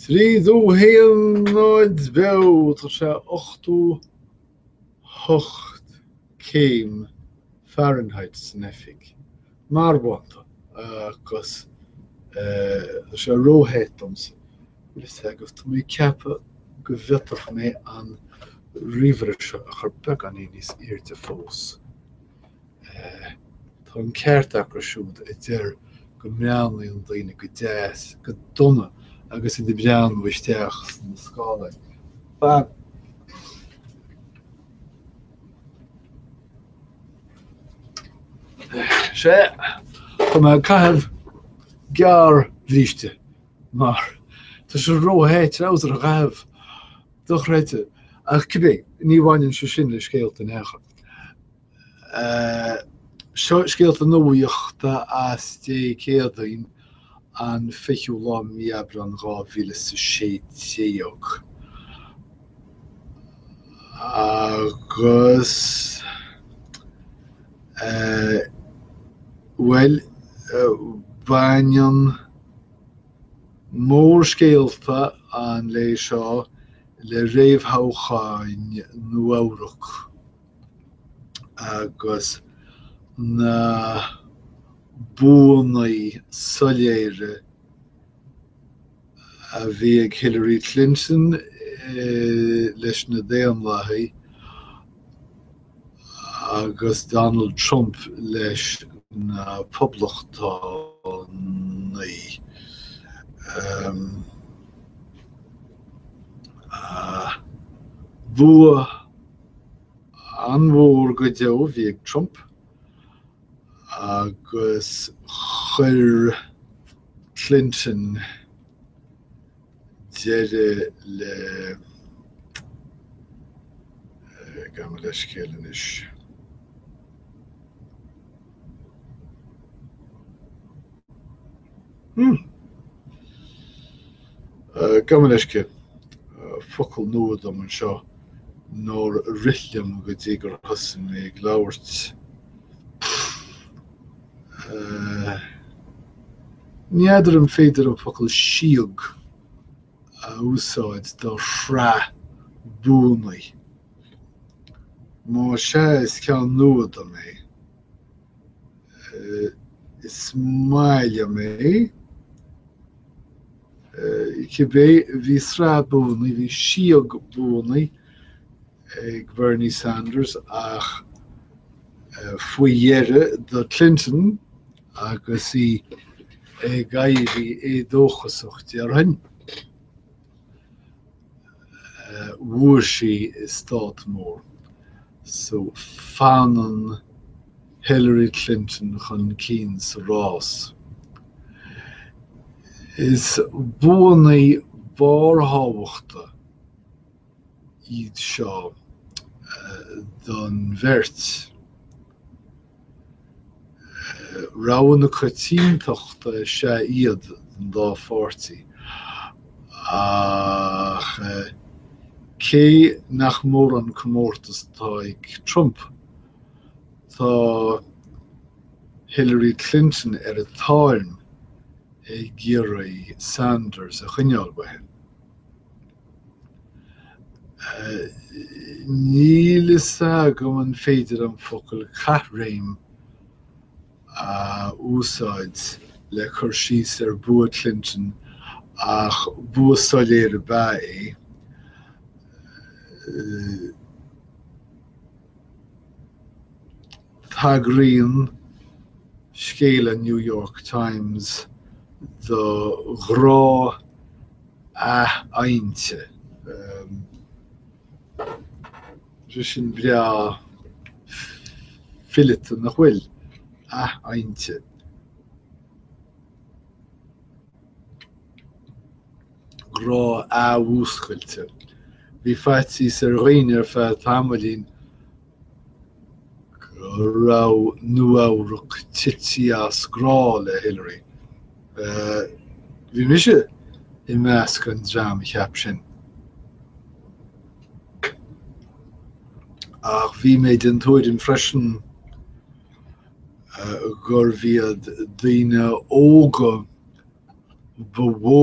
Trí dó haon táimid beo tá sé ochtó hocht céim Fahrenheit san oifig marbhánta agus tá sé róthe domsa agus tá mé ag ceapadh go bhfeadfadh mé an ríomhaire seo a chur beagáinín níos airde fós. Tá an ceart acu siúd a deir go mbreathnaíonn daoine go deas, nó go dona agus iad ag breathnú isteach sna scáileáin. Sea, tá mé ag caitheamh gearrbhríste mar tá sé róthe treabhsar a chaitheamh. Dochreidte, ach cibé, ní bhaineann sé sin le scéalta in aon chor. Scéalta nuachta as Dé Céadaoin an 20ú lá mí Aibreáin 2016 agus bhuel baineann Mórscéalta an lae seo le réamhthoghcháin Nua-Eabhrac agus na buanna soiléire a bhí ag Hillary Clinton leis na Daonlathaigh, agus Donald Trump leis na Poblachtánaigh. Bua an-mhór go deo a bhí ag Trump agus chuir Clinton, deireadh le gabh mo leithscéal anois. Hmm. Gabh mo leithscéal. Focal nua dom anseo nár rith liom go dtí gur thosaigh mé ag labhairt. Ní fheadar an féidir an focal 'síog' a úsáid do shraith buanna. Má sea, is ceann nua dom é. Is maith liom é. Cibé, bhí sraith buanna, bhí síog buanna. ag Bernie Sanders ach faoi dheireadh do Clinton agus í ag éirí éadóchasach déarfainn. Bhuaigh sí i stát mór. So fanann Hillary Clinton chun cinn sa rás. Is buanna barrthábhachta. iad seo don bheirt. Rogha na coitiantachta is ea iad don dá pháirtí, ach cé nach mór an comórtas atá ag Trump, tá Hillary Clinton ar a tairm ag iarraidh Sanders a choinneáil uaithi. Níl fhios agam an féidir an focal caithréim a úsáid le cur síos ar bua Clinton ach bua soiléir ab ea é. Tagraíonn scéal an New York Times do ghrá athadhainte. Sin breá fileata nach bhfuil athadhainte. Grá athmhúscailte. Bhí faitís ar dhaoine ar feadh tamaillín Go raibh Nua-Eabhrac tite as grá le Hillary. Bhí mise i measc an dream a cheap sin. Ach bhí mé den tuairim freisin gurbh iad daoine óga ba mhó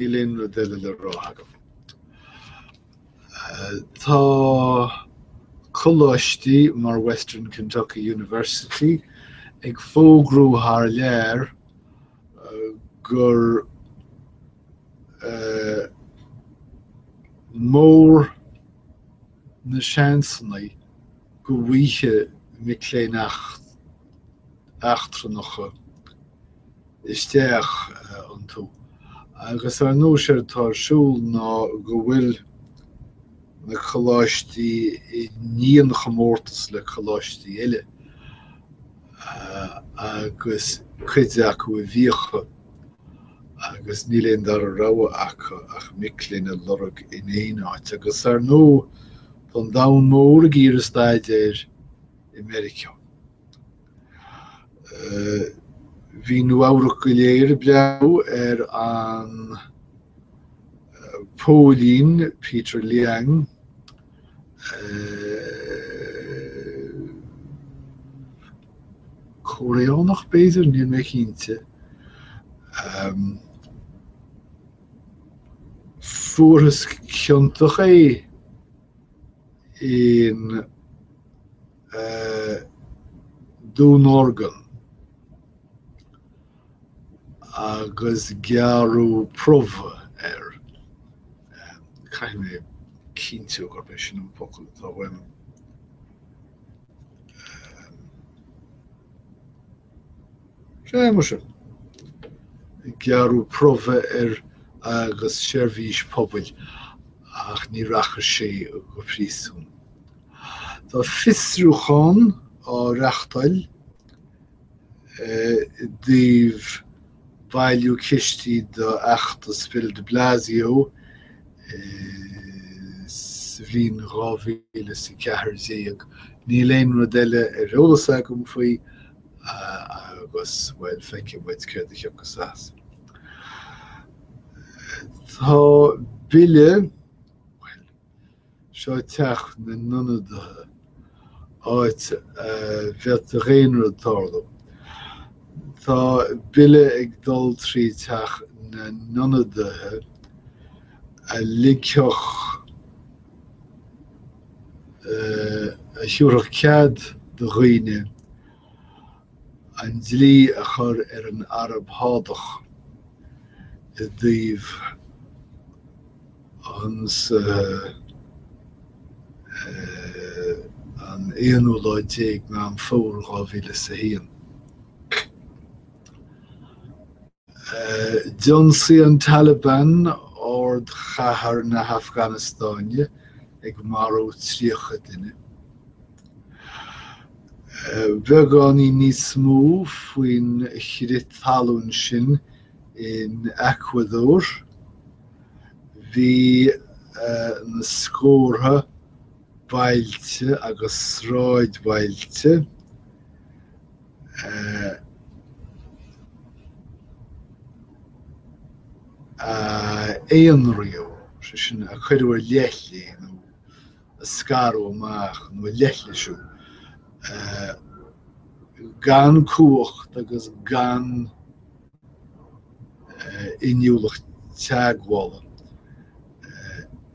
Níl aon rud eile le rá agam. Tá coláistí mar Western Kentucky University ag fógrú thar lear gur mór. na seansanna go bhfaighfeadh mic léinn eachtrannacha isteach iontu agus ar ndóigh séard atá ar siúl ná go bhfuil na coláistí i ndianchomórtas le coláistí eile agus cuid acu i bhfiacha. agus níl aon dara rogha acu ach mic léinn a lorg in aon áit agus ar ndóigh tá an domhan mór ag iarraidh staidéar i Meiriceá. Bhí Nua Eabhrac go léir ag breathnú ar an póilín Peter Liang Cóiréanach b'fhéidir, níl mé cinnte. Fuarthas ciontach é in dúnorgain agus gearradh promhadh air. Caithfidh mé cinntiú gurb é sin an focal atá uaim. Sé mar sin, gearradh promhadh air agus seirbhís pobail ach ní rachadh sé go príosún. Tá fiosrúchán á reachtáil i dtaobh. bailiú cistí do fheachtas Bill de Blasio sa bhliain 2014. Níl aon rud eile ar eolas agam faoi agus bhuel feicfidh muid céard a thiocfas as. Tá bille Sa teach na n-ionadaithe, áit a bheadh do dhaonra ag tarlú. Tá bille ag dul trí teach na n-ionadaithe a ligfeadh, a thiúrfadh cead do dhaoine an dlí a chur ar an Araib Shádach i dtaobh. Ionsaí an aonú lá déag Meán Fómhair dhá mhíle is a haon. D'ionsaigh an Taliban ardchathair na hAfganastáine ag marú tríocha duine. Beagáinín níos mó faoin chrith talún sin in Eacuadór. Bhí na scórtha bailte agus sráidbhailte a aonraíodh, sé sin a cuireadh ar leithligh nó a scaradh amach nó a leithlisíodh, gan cumhacht agus gan inniúlacht teagmhála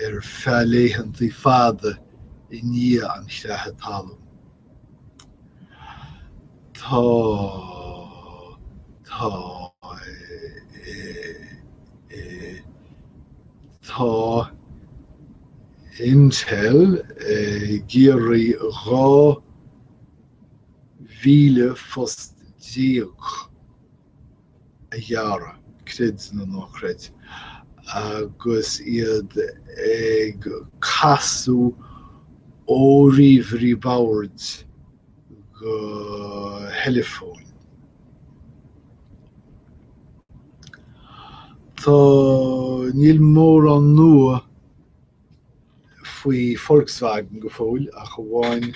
ar feadh laethantaí fada i ndiaidh an chreatha talún. Tá Tá Tá Intel ag iarraidh 12,000 phost a ghearradh, creid nó ná creid, agus iad ag casadh ó ríomhairí boird go theileafóin. Tá, níl mórán nua faoi Volkswagen go fóill ach amháin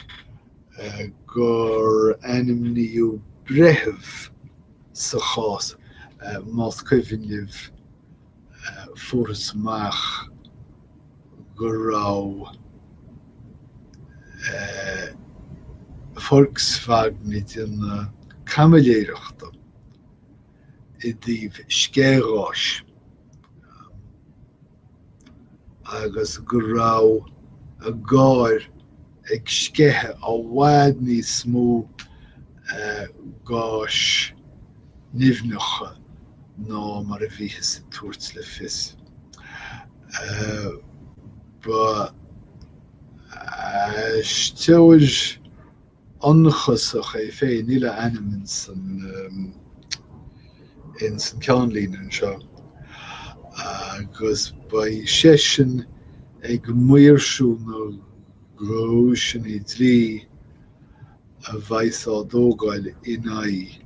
gur ainmníodh breitheamh sa chás, más cuimhin libh fuarthas amach go raibh Volkswagen ag déanamh caimiléireachta i dtaobh sceithgháis. agus go raibh a gcairr ag sceitheadh i bhfad níos mó gáis nimhneacha ná mar a bhíothas ag tabhairt le fios. Ba aisteoir ionchasach é féin. Níl a ainm ins an ins an ceannlíne anseo agus beidh seisean ag maoirsiú na gcúiseanna dlí a bheas á dtógáil in aghaidh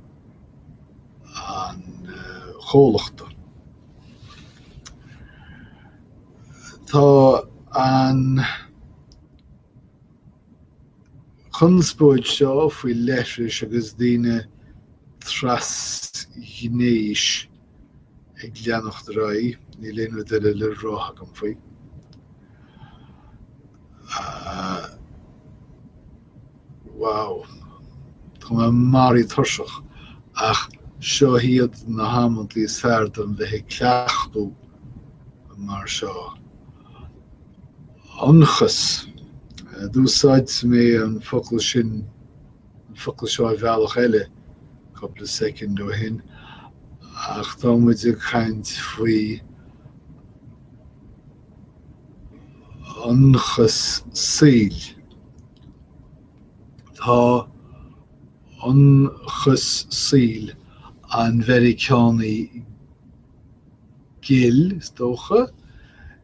an chomhlachta. Tá an. chonspóid seo faoi leithris agus daoine trasghnéis ag leanacht ar aghaidh, níl aon rud eile le rá agam faoi. wow. Tá mé maraithe tuirseach ach seo iad na hamantaí is fearr dom bheith ag cleachtadh mar seo. Ionchas. D'úsáid mé an focal sin, an focal seo i mbealach eile cúpla soicind ó shin, ach tá muid ag caint faoi ionchas saoil. Tá ionchas saoil an Mheiriceánaigh ghil, is dócha,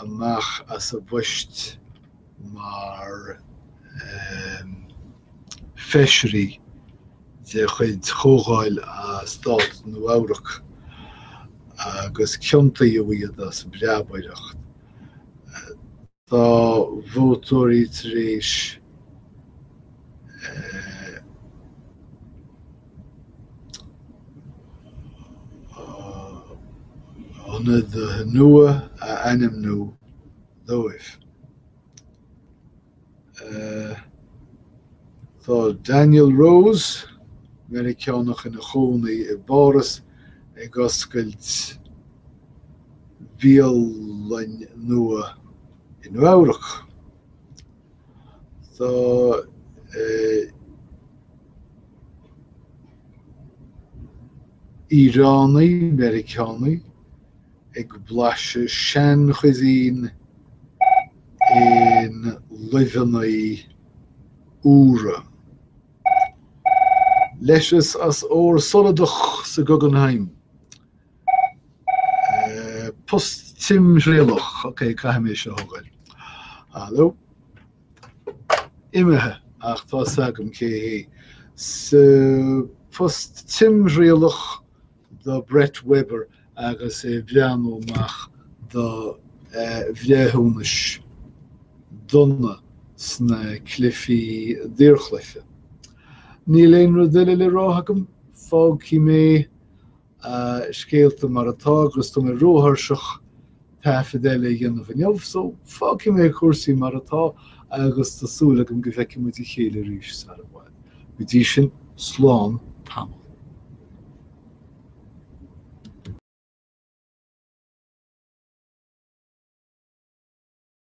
amach as a bpoist mar Feisirí de chuid Chomhdháil Stát Nua-Eabhrac agus ciontaíodh iad as breabaireacht. Tá vótóirí tar éis. ionadaithe nua a ainmniú dóibh. Tá Daniel Rose, Meiriceánach ina chónaí i bPáras, ag oscailt bialann nua i Nua-Eabhrac. Tá Iaránaigh-Mheiriceánaigh ag blaiseadh sean-chuisine i luibheanna úra. Leithreas as ór soladach sa Guggenheim Post timthriallach, ok, caithfidh mé seo a thógáil. Hallo. Imithe, ach tá fhios agam cé hé. So, post timthriallach do Brett Weber agus é ag breathnú amach do bhreithiúnais dona sna cluichí daorchluiche. Níl aon rud eile le rá agam, fágfaidh mé a scéalta mar atá agus tá mé róthuirseach taifead eile a dhéanamh inniu, so fágfaidh mé cúrsaí mar atá agus tá súil agam go bhfeicfidh muid a chéile arís sara i bhfad. Go dtí sin, slán tamall.